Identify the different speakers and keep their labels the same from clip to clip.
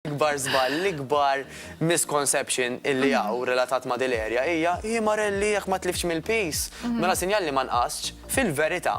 Speaker 1: L-ikbar żball, l-ikbar misconception illi hawn relatat ma' din l-area hija, hi Marelli jekk ma tliftx mill-piż, mela sinjal li ma nqastx. Fil-verità,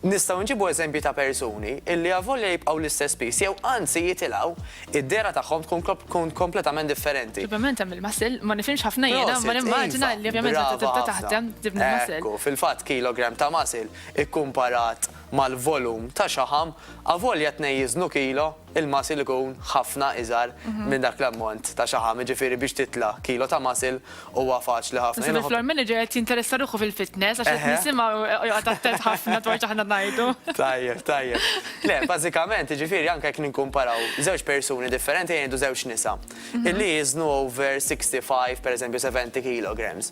Speaker 1: nistgħu nġibu eżempji ta' persuni illi avolja jibqgħu l-istess piż jew anzi jitilgħu, id-dehra tagħhom tkun kompletament differenti. Ovvjament hemm il-muscle,
Speaker 2: ma nifhimx ħafna jiena, imma nimmaġina illi ovvjament meta tibda taħdem tibni l-muscle. Brava ħafna. Ekku, fil-fatt kilogram
Speaker 1: ta' muscle ikkumparat mal-volum ta' xaħam, avolja t-tnejn jiżnu kilo, Il-muscle ikun ħafna iżgħar minn dak l-ammont ta' xaħam, jiġifieri biex titla' kilo ta' muscle huwa faċli ħafna. Naħseb il-floor manager qed jinteressa
Speaker 2: ruħu fil-fitness għax qed nisimgħu joqgħod attent ħafna dwar x'aħna ngħidu. Tajjeb, tajjeb.
Speaker 1: Le, bażikament, jiġifieri anke jekk nikkumparaw żewġ persuni differenti ejja ngħidu żewġ nisa, illi jiżnu over 65 pereżempju 70 kilograms.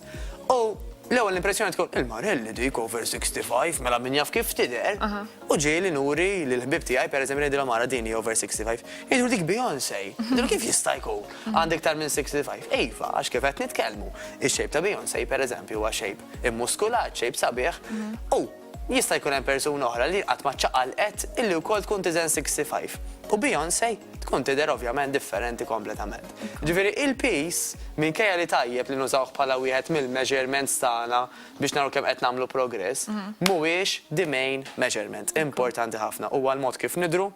Speaker 1: U l-ewwel impressjoni tkun, il-marelli dik over 65, mela min jaf kif tidher. U ġieli nuri lil ħbieb tiegħi pereżempju ngħidilhom ara din hi over 65. Jgħiduli dik Beyonce. Ngħidilhom kif jista' jkun? Għandha iktar minn 65. Iva, għax kif qed nitkellmu, ix-shape ta' Beyonce pereżempju huwa shape immuskulat, shape sabiħ, u jista' jkun hemm persuna oħra li qatt ma ċċaqalqet illi wkoll tkun tiżen 65. U Beyonce tkun tidher ovvjament differenti kompletament. Ġifieri il-piż, minkejja li tajjeb li nużawh bħala wieħed mill-measurements tagħna, biex naraw kemm qed nagħmlu progress, mhuwiex the main measurement. Importanti ħafna huwa l-mod kif nidhru,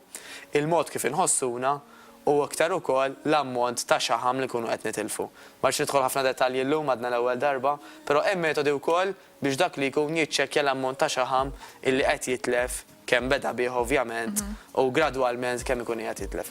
Speaker 1: il-mod kif inħossuna u iktar ukoll l-ammont ta' xaħam li nkunu qed nitilfu. Ma rridx nidħol ħafna dettalji llum għadna l-ewwel darba, però hemm metodi wkoll biex dak li jkun jiċċekkja l-ammont ta' xaħam illi qed jitlef, kemm beda bih ovvjament u gradwalment kemm ikun qiegħed jitlef.